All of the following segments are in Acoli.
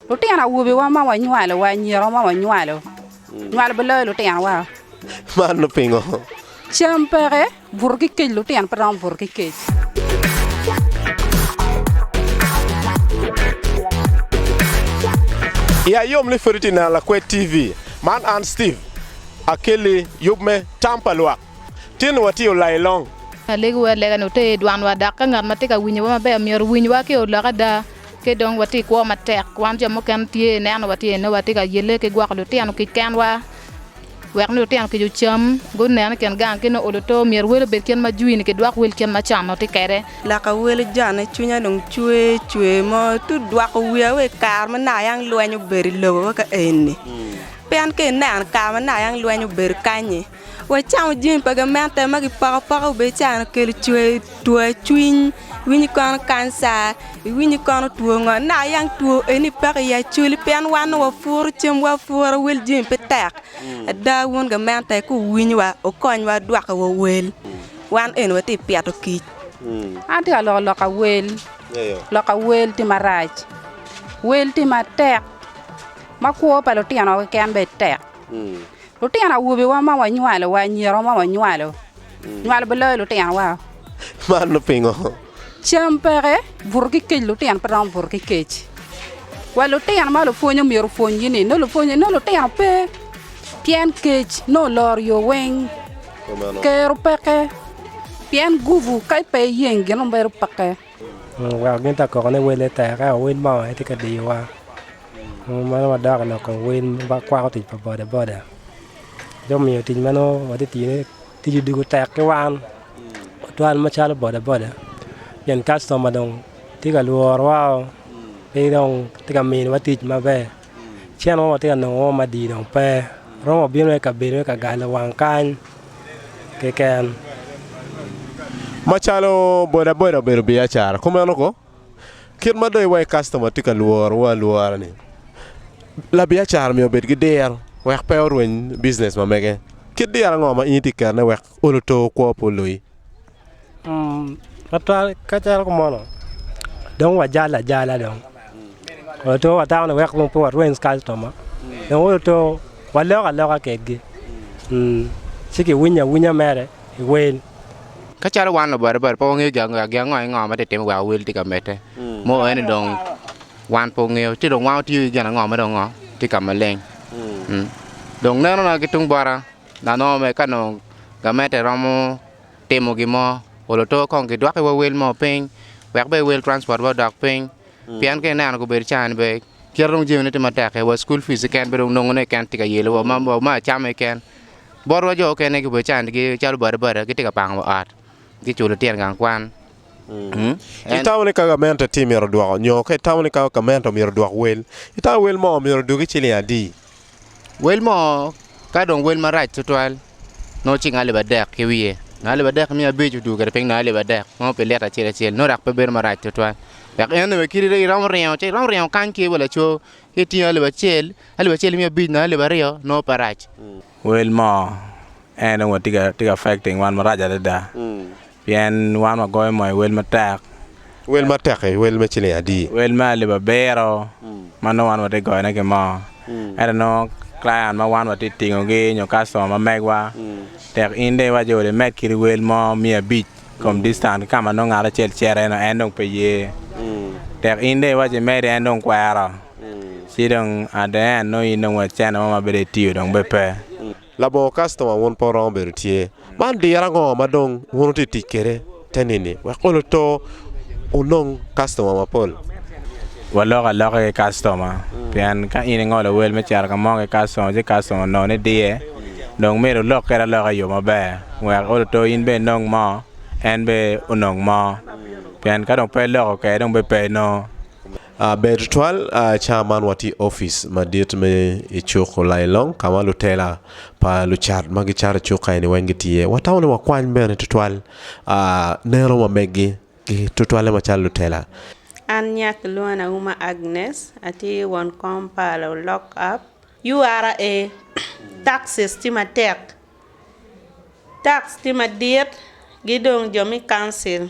Lutino awobiwa ma wanywalo wa anyira ma wanywalo nywalo biloyo lutinowa. Mano pingo? Cam peke buto ki kec, lutino pe romo buto ki kec. I ayom ni pwod itye neno Lakwed TV. Man an Steve Akelli yub me Tam pa Lwak. Tin watye olayi long. Alegiwa alega ni wuter dwanwa, dok ka ngat ma tye ka winyowa maber myero owinywa ki olok ada. Ki dong watye i kwo matek. Wan jo mukene tye ineno watye ineno watye ka yelle ki gwoko lutino kic kenwa wek nongo lutino kic ocam, gunen i kin gang ki nongo olo to. Myero wel obed kit ma jwi-ni kidwok wel kit ma con watye kwede. Laka wel ojane, cwinya dong cwer cwer mo. Tung dwoko wiya wa i kare ma naka yang lweny obedo i lobo wa ka eni. Pien ka ineno kare ma naka yang lweny obedo kany-nyi, Wacamo jami pa gamente ma kipoko apoko bene can okelo two cwiny, iwinyo kono kanca, iwinyo kono two ngo naka yang two eni peke i acwali pien wan nongo wapuro camwa apura wel jami pe tek ada wun gamente ka wuwinyowa wukonywa dwoko wa wel wan eni watye ka pito kic. An atye ka loko loka wel, loka wel tye marac, wel tye matek ma kwo pa lutino keken bene tek. Lutino awobiwa ma wanywalo wa anyira ma wanywalo nywalo bene loyo lutinowa. Man pingo? Cam peke, buto ki kec lutino pe romo buto ki kec. Wa lutino ma lupwony omyero opwonygi ni nongo lupwony nongo lutino pe pien kec nongo oloro yo weng. Kero peke pien gubu ka pe iyeng gin ma bedo peke. Gin ta koko ni wel aye tek ento wel mo aye tye ka diyowa meno wadoko lok kom wel ma kwako tic pa boda boda ci omiyo tic ma nongo watye ka tiyone tic odoko tek ki wan tutwal macalo boda boda pien kastoma dong tye ka lworowa-o pe dong tye ka miniwa tic maber. Cen mo watye ka nongo mo madii dong pe. Romo wabino i kabedo me ka galo wang kany keken. Macalo bodaboda obedo biacara, kumeno ko kit ma dong iwaci kastoma tye ka lworowa alwora-ni, labiacara myero obed ki diro wek pe orweny bijinec ma mege. Kit diro ango ma in itye ka ketone wek olo to kwo pe oloyi? Twatwal kacel ki mono dong wajalo ajala dong, watwero wa dano ni weko dong pe warweny kacitoma dong weko twero walok aloka kedgi ci kiwinyo awinya mere i wel. Ka calo wan lubatibati pe wangeyo gin ango ango ma tye ka timme wek wel tye ka medde mo aye ni dong wan pe wangeyo ci dong wan watiyo ki gin ango ma dong tye ka maleng. Dong nenona ki tung bota na nongo mere ka nongo gamente romo timo gin mo, ol oto kong gidwokkiwa wel mo piny wek bene wel transport wa odok piny pien ka ineno gubedo caa ni bene kite dong jamine tye matek keken wa school fees keken pe dong nongo ne keken tye ka yelo wa wa ma acama keken botwa jo mukene gubedo caa ni gi calo bada bada gitye ka pango wa ot ki culo litino gang kwan. Itamo ni ka gamente tye myero odwok nyo ka itamo ni ka gamente myero odwok wel itamo wel mo myero odugi ciling adi? Wel mo ka dong wel marac tutwal nongo cik ngai alip adek ki wiye, ngai alip adek ki miya abic odugo kwede piny ngai alip adek nongo pi lyeto acel acel nongo dok pe bedo marac tutwal wek en onongo kit iromo ringo ci iromo ringo kany ki wa laco ki itingo alip acel, alip acel ki miya abic nongo alip aryo nongo pe rac. Wel mo. En onongo tye ka affecting wan marac adada pien wan wagoyo mo i wel matek. Wel matek-ki wel me ciling adi? Wel me alip abiro ma nongo wan watye ka goyone ki mo. Ento nongo client ma wan watye ka tingogi nyo kastoma ma megwa, tek in dong iwac ni olo imed kit wel mo miya abic i kom distance ki ka ma nongo ngat acel cito-ni en dong pe ye. Tek in dong iwac ni imedi en dong kwero, ci dong at the end nongo in dong wa cente mo ma bedo ni itiyo dong bene pe. Labongo kastoma wun pe wuromo bedo tye. Man diro ango ma dong wun wutye ka tic kwede te nini wek wun oto wunong kastoma mapol? Waloko aloka ki kastoma, pien ka in ingolo wel me cito ka mo ki kastoma ci kastoma onongo ni diye, dong myero wulok kwede aloka i yo maber wek oto in bene inong mo, en bene onong mo. Pien ka dong pe iloko kwede dong bene pe inongo. Ber tutwal cawa man watye i opic madit me i cuk Olailong ka ma lutela pa lucat ma gicato i cuk eni weng gitye. Watamo ni wakwany bene tutwal neno wa megi ki tutwalle macalo lutela. An nya kilwonga ni Auma Agnes, atye won kom pa lulok app. URA, Taxes tye matek, tax tye madit ki dong jo me council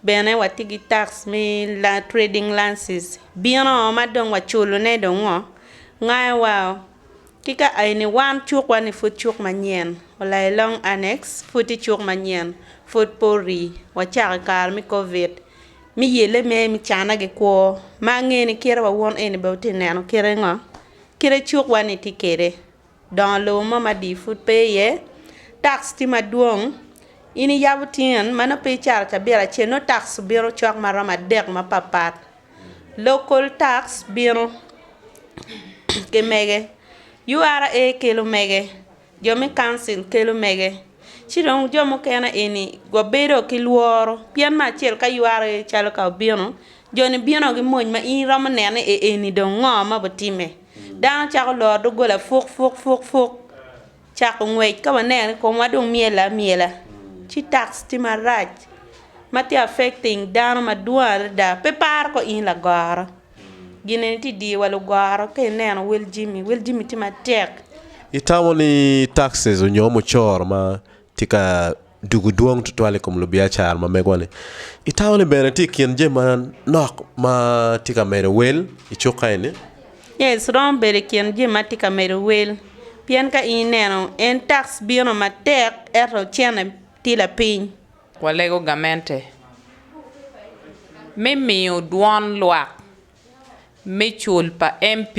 Bene watye ki tax me trading license bino ma dong waculone dong ngo ngayo wa oo ki ka aye wan cuk wa ni pud cuk manyen olo I long annex pud tye cuk manyen pud pe ori wacako I kare me covid me yelle mere me cana gi kwo ma ange ni kite wa wun eni bene wutye ka neno kite ngo kite cuk wa ni tye kwede. Dongo lobo mo ma dii pud pe iye, tax tye madwong. In iyabo tin ma nongo pe icato cabit acel nongo tax obino cok ma romo adek mapat pat. Local tax bino ki mege, URA kelo mege, jo me council kelo mege ci dong jo mukene eni wabedo ki lworo pien me acel ka URA calo ka obino joni bino ki mony ma in iromo neno ni ee eni dong ngo ma bitimme. Dano cako loro doggola fuk fuk fuk fuk cako ngwec ka waneno ni komwa dong myel amyela ci tax tye marac ma tye affecting dano madwong adada pe paro ko in lagoro gin eni tye ka diyowa lugoro ka ineno wel jami wel jami tye matek. Itamo ni taxes nyo mucoro ma tye ka Dugu dwong tutwal i kom lubiacara ma megowa-ni. I taun-ni bene tye i kin jami manok ma tye ka medo wel i cuka eni. Yes, romo bedo i kin jami ma tye ka medo wel, pien ka in ineno, en tax bino matek ento cente tye lapiny. Walego gamente me miyo dwon lwak me cul pa MP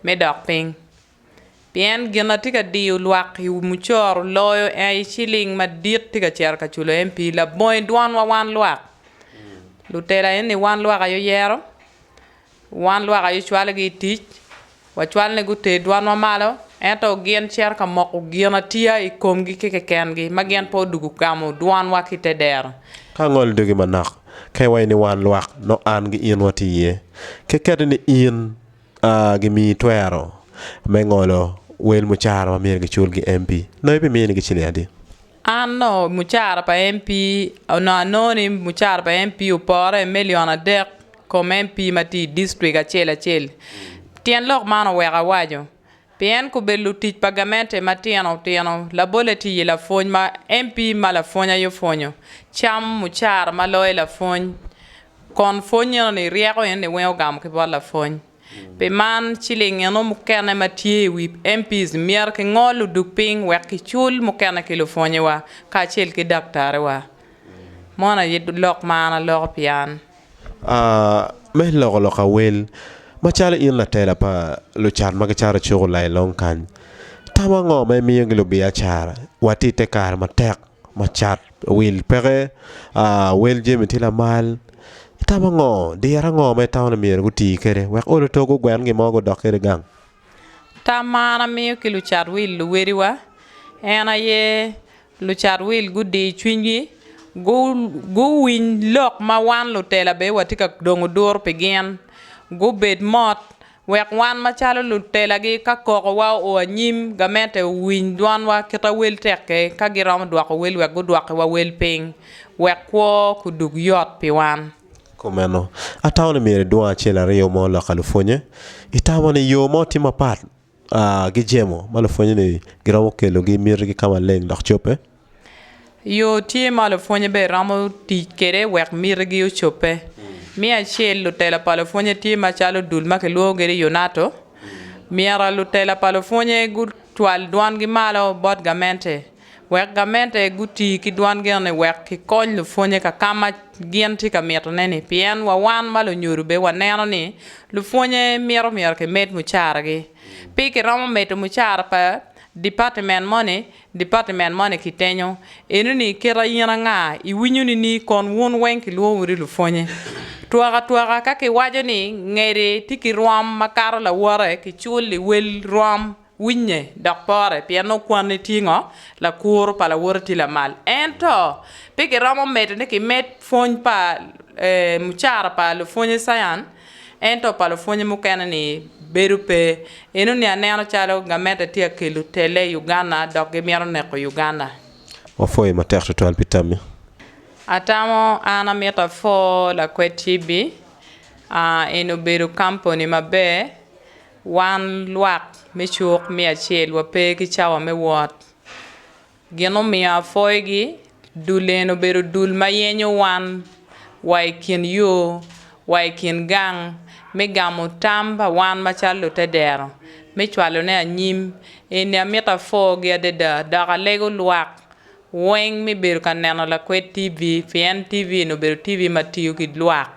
me dok piny Pien gin ma tye ka diyo lwak i wi mucoro loyo aye ciling madit tye ka cito ka culo MP. Labongo i dwanwa wan lwak. Lutela eni wan lwak aye oyero, wan lwak aye ocwalogi i tic, wacwal ni guter dwanwa malo, ento gin cito ka moko ginatiya i komgi ki kekengi ma gin pe odwogo gamo dwanwa ki i te dero. Ka angolo dogi manok, ka iwaco ni wan lwak, nongo an gi in watye iye. Kekette ni in. A Gimiyi twero me ngolo wel mucara ma myero giculgi MP nongo ibi minigi ciling adi? A Nongo mucara pa MP Onongo anongo ni mucara pa MP opore i million adek i kom MP ma tye i distrik acel acel. Tyen lok man oweko awaco. Pien kube lutic pa gamente matino tino, labole tiyi lapwony ma MP ma lapwony aye opwonyo, cam mucara ma loye lapwony, kon pwony eno ni ryeko eno ni weng ogamo ki bot lapwony. Pi man, ciling eno mukene ma tye i wi MPs myero ki ngol odug piny wek ki cul mukene ki lupwonyewa kacel ki daktariwa. Mono aye lok ma an aloko pi an. me loko lok awel macalo in latela pa lucat ma gicato cuku lai long kany, tam ango ma imiyogi lubiacara wa ti ite kare matek ma cat wil peke wel jami ti lamal itamo ango? Diro ango ma itamo ni myero guti kwede wek olo tog gugwen gin mo gudok kwede gang? Tam ma an amiyo ki lucat wil luwediwa en aye lucat wil gudir cwinygi, guwiny lok ma wan lutela bene watye ka dongo duru pi gin, gubed mot wek wan macalo lutelagi ka kokowa oo anyim gamente owiny dwanwa kita wel tekke ka giromo dwoko wel wek gudwokiwa wel piny wek kwo kudug yot pi wan. Kumeno, atamo ni myero idwong acel aryo mo lok ka lupwonnye. Itamo ni yo mo tye mapat ki jemo ma lupwonnyeni giromo kelogi i mitigi ka maleng dok cobbe? Yo tye ma lupwonnye bene romo tic kwede wek mitigi ocobbe. Me acel, lutela pa lupwonnye tye macalo dul ma kilwongo kwede ni UNATO. Myero lutela pa lupwonnye gucwal dwangi malo bot gamente Wek gamente guti ki dwan genne wek gikony lupwonnye ka ka ma gin tye ka mitone-ni, pien wa wan ma lunyodo bene waneno ni lupwonnye mito myero kimed mucaragi. Pi kiromo medo mucara pa dipatimen moni, dipatimen moni kitenyo, Enoni kit a in anga? Iwinyo nini? Kon wun weng kilwongowu ni lupwonnye. Twakatwaka ka kiwaco ni ngede tye ki rwom makato lawote, kicul liwel rwom. Winye, dok pore, pien okwanni tye ngo? Lakuru pa lawote tye lamal. Ento, pe giromo medo ni kimed pwony pa mucara pa lupwonye Sayan, ento pa lupwonye mukene ni bedo pe. Eno ni aneno calo gamente tye akelo tele i Uganda dok gimito neko Uganda. Wapwoyi matek twatwal pi tammi. Atamo an amito apwo lakwed TV. Eno obedo kamponi maber. Wan lwak me cuk me acel wape ki cawa me wot. Gin omiyo apwoyogi, dul eni obedo dul ma yenyo wan wa i kin yo, wa i kin gang, me gamo tam pa wan macalo lutedero, me cwalone anyim. Eni amito apwogi adada, dok alego lwak Weng me bedo ka neno lakwed TV, pien TV eni obedo TV ma tiyo ki lwak,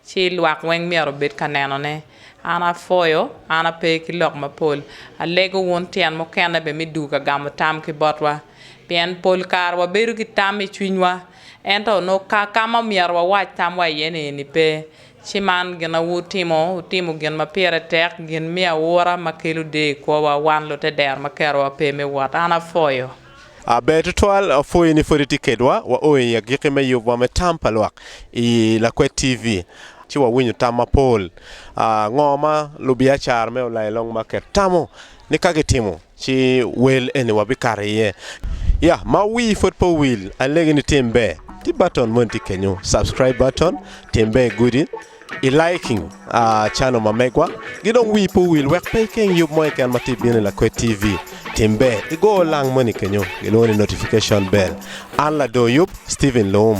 ci lwak weng myero obed ka nenone. An apwoyo, an ape ki lok mapol. Alego wun tyen mukene bene me dwogo ka gamo tam ki botwa. Pien pol kare wabedo ki tam i cwinywa, ento onongo kar ka ma omyero wawac tamwa iye-ni eni pe. Ci man gin ma wutimo, wutimo gin ma pire tek, gin me aura ma kelo deyo i kwowa, wan lute dero ma kerowa pe me wot. An apwoyo. Aber tutwal, apwoyo ni pwod itye kedwa. Wao i agiki me yubwa me tam pa lwak i Lakwet TV, ci wawinyo tam mapol. Ngo ma lubiacara me Olayo Long Market tamo ni ka gitimo ci wel eni wabikato iye? Ya, ma wii pwod pe owil, alegi ni tim ber, tye button moni tye kenyu, subscribe button, tim ber gudi. I liking a channel ma megwa gi dong wii pe owil wek pe ikeng yub mo keken ma tye bino i Lakwed TV tim ber igo lang moni kenyo gilwongo ni notification bell an lador yub Steven Loum.